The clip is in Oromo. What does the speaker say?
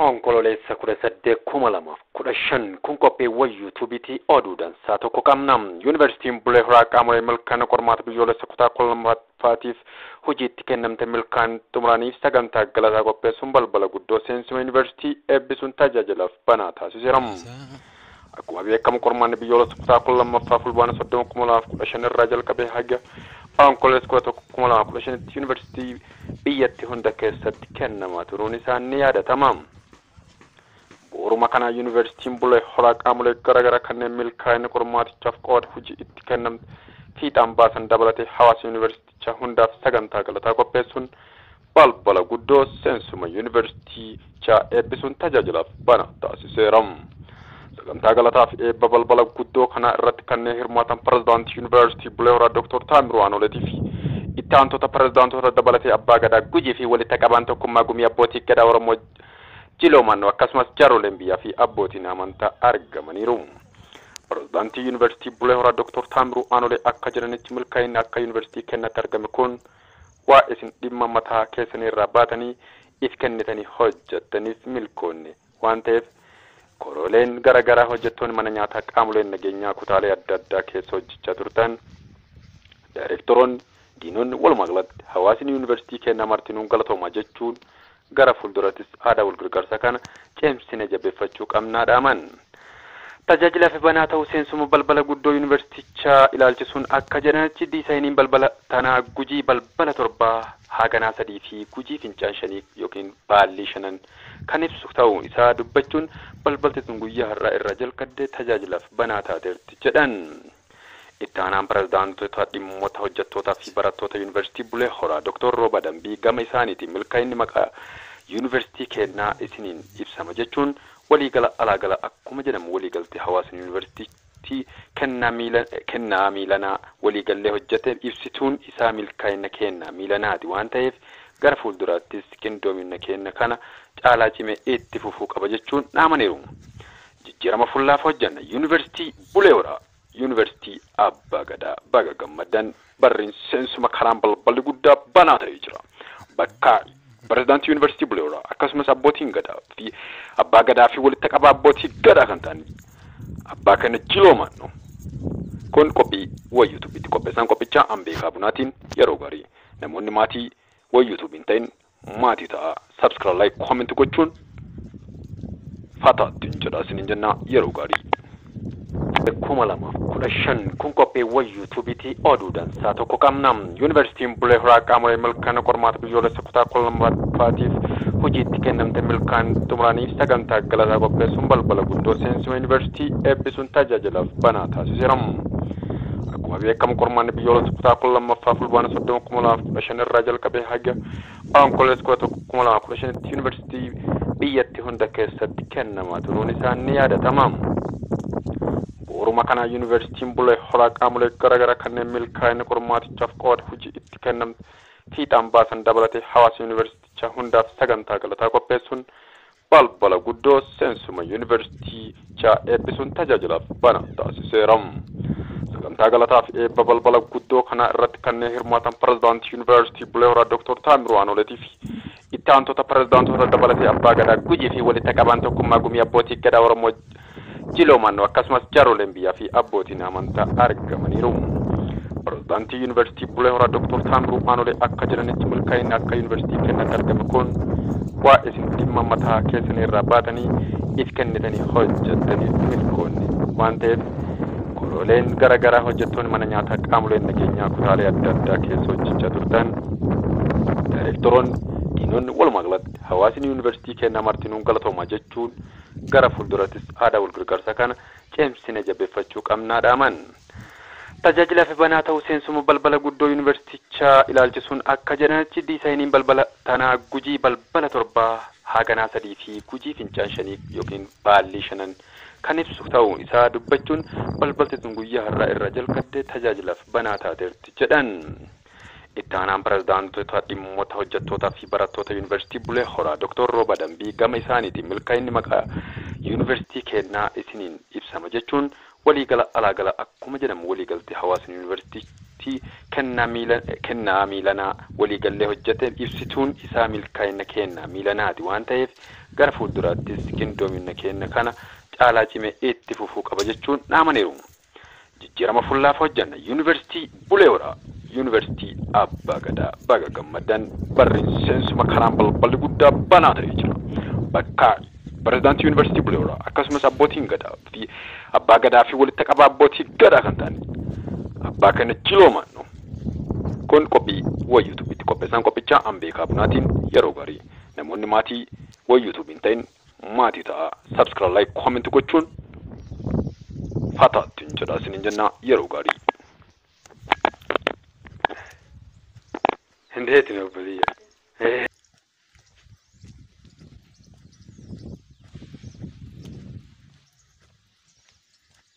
Onkololeessa 18,2015 kun qophiiwwan yuutuubiitii oduu dansaa tokko qabna. Yuunivarsiitiin Bulee Horaa qaamolee milkaa'ina qormaata biyyoolessa kutaa 12ffaatiif hojiitti kennamte milkaan xumuraniif sagantaa galataa qopheessuun balbala guddoo seensuma yuunivarsiitii eebbisuun tajaajilaaf banaa taasiseera. Akkuma beekamu qormaanni biyyoolessa kutaa 12ffaa Fulbaana 30, 2015 irraa jalqabee haga Onkololeessa 11, 2015tti Yuunivarsiitii biyyatti hunda keessatti kennamaa turuun isaa ni yaadatama. Bu'uruma kanaan Yuunivarsiitiin Bulee Horaa qaamolee garagaraa kanneen milkaa'ina qormaatichaaf qooda hojii itti kennamte fiixaan baasan dabalatee hawaasa Yuunivarsiitichaa hundaaf sagantaa galataa qopheessuun balbala guddoo seensuma Yuunivarsiitichaa eebbisuun tajaajilaaf banaa taasiseera. Sagantaa galataa fi eebba balbala guddoo kanaa irratti kanneen hirmaatan Pirezidaantii Yuunivarsiitii Bulee Horaa Dooktor Taamiruu Aanoleetii fi itti aantota pirezidaantoota dabalatee Abbaa Gadaa Gujii fi walitti qabaan tokkummaa gumii abbootii Gadaa Oromoo Jiloo Mannoo akkasumas jaarroleen biyyaa fi abbootiin amantaa argamaniiru. Pirezidaantii Yuunivarsiitii Bulee Horaa Dooktor Taamiruu Aanolee akka jedhanitti milkaa'inni akka Yuunivarsiitii keenyaatti argame kun Waa isin dhimma mataa keessanii irraa baatanii if kennitanii hojjattaniif milkoonne waan ta'eef korooleen gara garaa hojjattoonni mana nyaataa qaamoleen nageenyaa kutaalee adda addaa keessa hojjachaa turtan daayireektaroonni, diinonni walumaa galatti hawaasni yuunivarsiitii keennaa martinuu galatoomaa jechuun Gara fuuldurattis aadaa walgargaarsaa kana cimsinee jabeeffachuu qabna dhaaman. Tajaajilaaf banaa ta'uu seensuma balbala guddoo Yuunivarsiitichaa ilaalchisuun akka jedhanitti, diisaayiniin balbala tanaa Gujii balbala torba, Haaganaa sadii fi Gujii fincaan shanii ykn baallii shanan kan ibsu ta'uu isaa dubbachuun, balbalti tun guyyaa har'aa irraa jalqadde tajaajilaaf banaa taateerti jedhan. Itti aanaan Pirezidaantota Dhimmota Hojjettootaa fi Barattoota Yuunivarsiitii Bulee Horaa Doktor Rooba Dambii gama isaaniitiin milkaa'inni maqaa Yuunivarsiitii keennaa isiniin ibsama jechuun walii gala alaa gala akkuma jedhamu walii galtee hawaasni Yuunivarsiitii kennaa miilanaa walii gallee hojjete ibsituun isaa milkaa'inna keenna miilanaati waan ta'eef gara fuulduraattis qindoominna keenna kana caalaa cimee itti fufuu qaba jechuun dhaamaniiru. Jijjirama fullaaf hojjanna University Bulee Horaa University Abbaa Gadaa Baga gammaddan barriin seensuma karaan balballi guddaa banaa ta'ee jira bakka President University Bulee Horaa akkasumas Abbootiin Gadaa fi Abbaa Gadaa fi walitta qabaa Abbootii Gadaa kan ta'an Abbaa keenya Jiloo Maannoo Kun qophii wa YouTube ti qopheessaan qophichaa Ambeekaa Bunaatiin yeroo gaarii namoonni maatii wa YouTube hin ta'in Maatii ta'aa subscra like comment gochuun fataa ittiin jedhaa isiniin jennaa yeroo gaarii. kuma lamaaf kudha shan kun qopheewwan yuutuubiitii oduu dansaa tokko qabna yuunivarsiitiin bulee horaa qaamolee milkaa'ina qormaata biyyoolessa kutaa kudha lammaffaatiif hojiitti kennamte milkaan xumuranii sagantaa galataa qopheessuun balbala guddoo seensuma yuunivarsiitii eebbisuun tajaajilaaf banaa taasiseera. Akkuma beekamu qormaanni biyyoolessa kutaa 12ffaa Fulbaana 30, 2015 irraa jalqabee haga Onkololeessa 11, 2015tti yuunivarsiitii biyyatti hunda keessatti kennamaa turuun isaa ni yaadatama. Bu'uruma kanaa yuunivarsiitiin Bulee Horaa qaamolee garaagaraa kanneen milkaa'ina qormaatichaaf qooda hojii itti kennamte fiixaan baasan dabalatee hawaasa yuunivarsiitichaa hundaaf sagantaa galataa qopheessuun balbala guddoo seensuma Yuunivarsiitichaa eebbisuun tajaajilaaf banaa taasiseera. Sagantaa galataa fi eebba balbala guddoo kanaa irratti kanneen hirmaatan Pirezidaantii Yuunivarsiitii Bulee Horaa Dooktor Taamiruu Aanooleetii fi itti aantota pirezidaantoota dabalatee Abbaa Gadaa Gujii fi walitta qabaan tokkummaa gumii abbootii Gadaa Oromoo Jiloo Mannoo akkasumas jaarroleen biyyaa fi abbootiin amantaa argamaniiru. Pirezidaantii Yuunivarsiitii Bulee Horaa Doktor Taammiruu Aanolee akka jedhanitti milkaa'inni akka Yuunivarsiitii keenyaatti argame kun bu'aa isin dhimma mataa keessanii irraa baatanii if kennitanii hojjettaniif milkoonne waan ta'eef korooleen gara garaa hojjettoonni mana nyaataa qaamoleen nageenyaa kutaalee adda addaa keessa hojjechaa turtan daayireektaroonni diinonni walumaa galatti hawaasni yuunivarsiitii keenyaa martinuu galatoomaa jechuun Gara fuulduratis aadaa walgargaarsa kana cimsine jabeeffachuu qabna dhaaman. Tajaajilaaf banaa ta'uu seensuma balbala guddoo Yuunivarsiitichaa ilaalchisuun akka jedhanitti diisaayiniin balbala tanaa Gujii balbala torbaa haaganaa sadii fi Gujii fincaan shanii ykn baallii shanan kan ibsu ta'uu isaa dubbachuun balbalti tun guyyaa har'aa irraa jalqabdee tajaajilaaf banaa taateerti jedhan. Itti aanaan Pirezidaantota Dhimmota Hojjettootaa fi Barattoota Yuunivarsiitii Bulee Horaa Doktor Rooba Dambii gama isaaniitiin milkaa'inni maqaa Yuunivarsiitii keennaa isiniin ibsama jechuun walii gala alaa gala akkuma jedhamu walii galtee hawaasni Yuunivarsiitictii kennaa miilanaa walii gallee hojjete ibsituun isaa milkaa'inna keenna miilanaati waan ta'eef gara fuulduraattis qindoominna keenna kana caalaa cimee itti fufuu qaba jechuun dhaamaniiru. Jijjirama fullaaf hojjanna Yuuniversitii Bulee Horaa Yuuniversitii Abbaa Gadaa Baga gammaddan barri seensuma karaan balballi guddaa banaa ta'ee jira Bakka Pirezidaantii Yuuniversitii Bulee Horaa akkasumas Abbootiin Gadaa fi Abbaa Gadaa fi walitta qabaa Abbootii Gadaa kan ta'an Abbaa keenya Jiloo Maannoo Kun qophii way YouTube itti qopheessaan qophichaa Ambeekaa Bunaatiin yeroo gaarii namoonni maatii way YouTube hin ta'in Maatii ta'aa subscra like comment gochuun fata ittiin jedhaa isinin jennaa yeroo gaarii. Hin deetine obboleeyya.